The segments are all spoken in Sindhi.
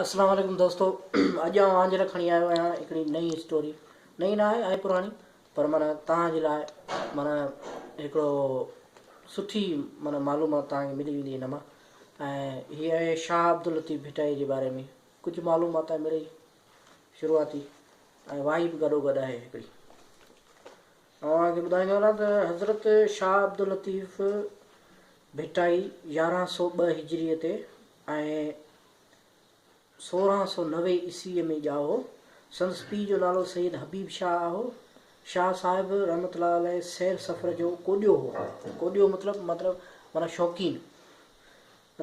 السلام عليڪم دوستو اڄ آئون اوهان جي لاء کڻي آيو آهيان هڪڙي نئين اسٽوري نئين نه آهي آهي پراڻي پر معنيٰ توهان جي لاء معنيٰ هڪڙو سٺي معنيٰ معلومات توهان کي ملي ويندي هن مان ۽ هي آهي شاهه عبداللطيف ڀٽائي جي باري ۾ ڪجهه معلومات آهي مڙئي شروعاتي ۽ واهي به گڏو گڏ آهي هڪڙي اوهان کي ٻڌائيندو هلان ته حضرت شاهه عبداللطيف ڀٽائي يارهن سؤ ٻه هجريء تي ۽ سورهن سؤ نوي عيسويء ۾ ڄائو. سندس پيء جو نالو سيد حبيب شاهه آهو. شاهه صاحب رحمة الله عليه سير سفر جو ڪوڏيو هو. ڪوڏيو مطلب مطلب معنيٰ شوقين.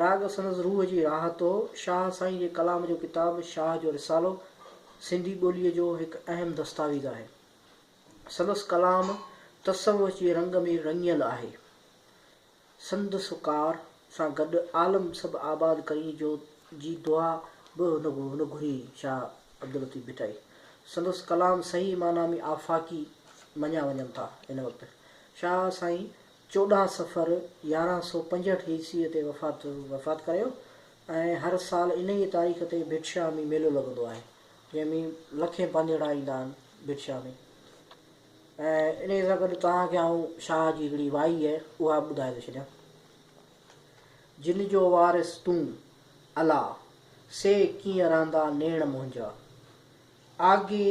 راڳ سندس روح جي راحت هو. شاهه سائين جي ڪلام جو ڪتاب شاهه جو رسالو سنڌي ٻوليء جو هڪ اهم دستاويز آهي. سندس ڪلام تصوف جي رنگ ۾ رڱيل آهي. سندس ڪار سان گڏ عالم سڀ آباد ڪرين جو جي دعا به نه گهري شاهه عبداللطيف ڀٽائي. سندس ڪلام صحيح معنيٰ ۾ آفاقي مڃيا وڃن ٿا. ان وقت شاهه سائين چوڏهن صفر يارهن سؤ پنجهٺ عيسويء تي وفات ڪريو ۽ هر سال انهيء تاريخ تي ڀٽشاهه ۾ ميلو لڳندو آهي. جنهن ۾ لکين پنڌيئڙا ايندا آهن برشا ۾. ۽ انهيء سان گڏ توهان کي آئون شاهه جي هڪڙي وائي اهي اها به ٻڌائي ٿو ڇڏيان. جن جو وارث تون، الا! سي ڪيئن رهندا نيڻ منهنجا. آگي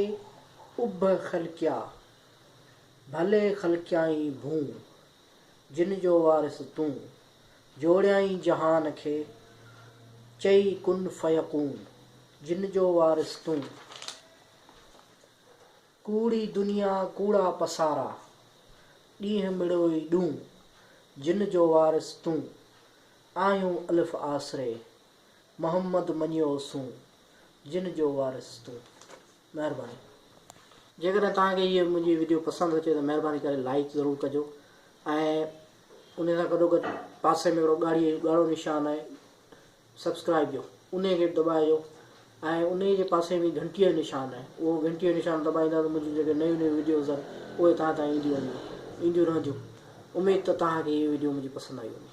اڀ خلقيا، ڀلي خلقيائين ڀون. جن جو وارث تون، جوڙيائين جهان کي چئي ڪن فيڪون، جن جو وارث تون. ڪوڙي دنيا ڪوڙا پسارا، ڏينهن مڙوئي ڏون، جن جو وارث تون. آهيون الف آسري، محمد مڃيو سون، جن جو وارث تون. مهرباني جيڪڏهن توهان کي هيء منهنجي وڊيو پسند اچي ته مهرباني ڪري لائيڪ ضرور ڪجو ۽ ان سان گڏو گڏ پاسي ۾ هڪڙو ڳاڙهي ڳاڙهو نشان آهي سبسڪرائيب جو انهي کي به دٻائجو ۽ انهي جي پاسي ۾ گهنٽي جو نشان آهي اهو گهنٽي جو نشان دٻائيندا ته منهنجون جيڪي نيون نيون وڊيوز آهن اهي توهان تائين اينديون وينديون اينديون رهنديون اميد ته توهان کي هيء وڊيو منهنجي پسند آئي هوندي